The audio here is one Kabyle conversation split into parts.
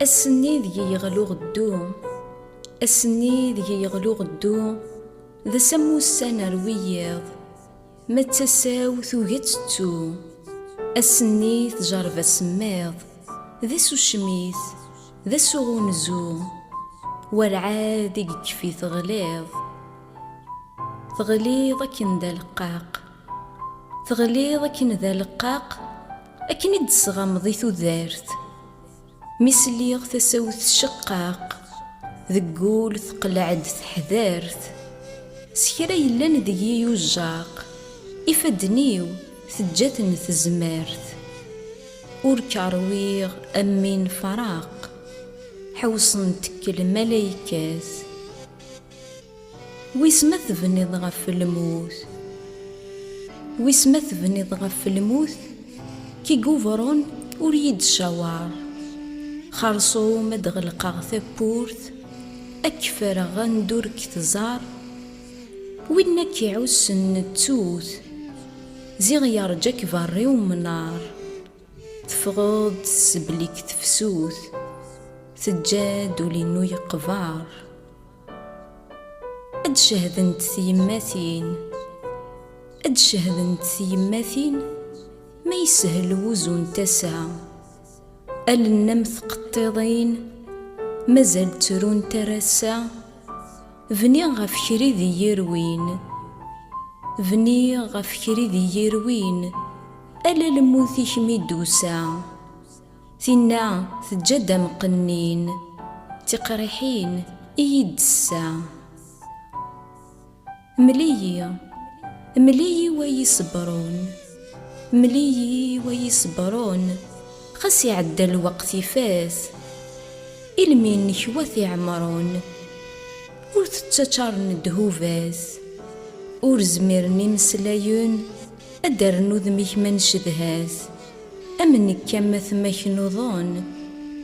Ass-nni deg-i yeɣlu ɣeddu, ass-nni deg-i yeɣlu ɣeddu, d ass am wussan ar wiyiḍ, ma d tasa-w tugi ad tettu. Ass-nni tjerreb asemmiḍ, d ass ucmit, d ass uɣunzu, werɛad i yekfi teɣliḍ. Teɣliḍ akken d aleqqaq, teɣliḍ akken d aleqqaq, Akken i d-tesɣameḍ i tudert. Mi sliɣ tasa-w tceqqaq, deg ul teqleɛ-d teḥdert. S kra yellan deg-i yujjaq, ifadden-iw teǧǧa-ten tezmert. Ur k-rwiɣ a mmi nefraq, ḥewṣen-t lmalaykat. Wis ma tebniḍ ɣef lmut Wis ma tebniḍ ɣef lmut Kigubrun ur yi-d-caweṛ Xeṛṣum ad ɣelqeɣ tawwurt Ad k-ferreɣ anda ur k-tẓeṛ Winna k-iɛussen nettut Ziɣ yeṛǧa-k beṛṛi umnaṛ Teffɣeḍ-d s belli-k tefsut Teǧǧa-d ul-inu yeqbeṛ Ad cehdent tyemmatin Ad cehdent tyemmatin Ma yeshel wuzu n tasa Allen am tqeṭṭiḍin Mazal ttrunt ar ass-a Bniɣ ɣef kra i d iyi-irwin Bniɣ ɣef kra i d iyi-irwin Ala lmut-ik mi d-tusa Tinna teǧǧa-d amqennin, d tiqriḥin i yi-d-tessa. Mel-iyi, mel-iyi wa yi-ṣebṛun, mel-iyi wa yi-ṣebṛun, xas iɛedda lweqt ifat, ilmi-nnek wa t-iɛemṛun, ur t-ttaččaṛen ddhubat, ur zmiren imeslayen ad d-rren udem-ik ma ncedha-t. Am nekk am atma-k nuḍen,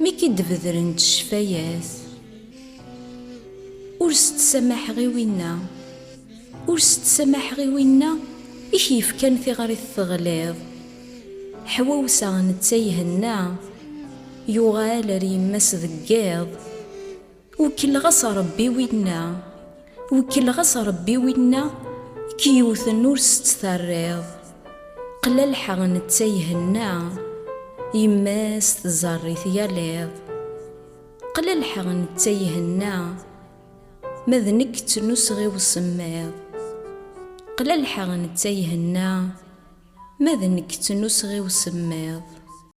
mi k-id-bedren d ccfayat. Ur s-ttsamaḥeɣ i winna, ur s-ttsamaḥeɣ i winna i k-yefkan tiɣrit teɣliḍ. Ḥwawsa netta ihenna, yuɣal ar yemma-s deg yiḍ. Wekkleɣ-as Ṛebbi winna, wekkleɣ-as Ṛebbi winna k-yewten ur s-tt-terriḍ, qlalḥa netta ihenna, yemma-s tẓerr-it yal iḍ. Qlalḥa netta ihenna, ma d nekk ttnuseɣ i usemmiḍ. Qlalḥa netta ihenna, ma d nekk ttnuseɣ i usemmiḍ.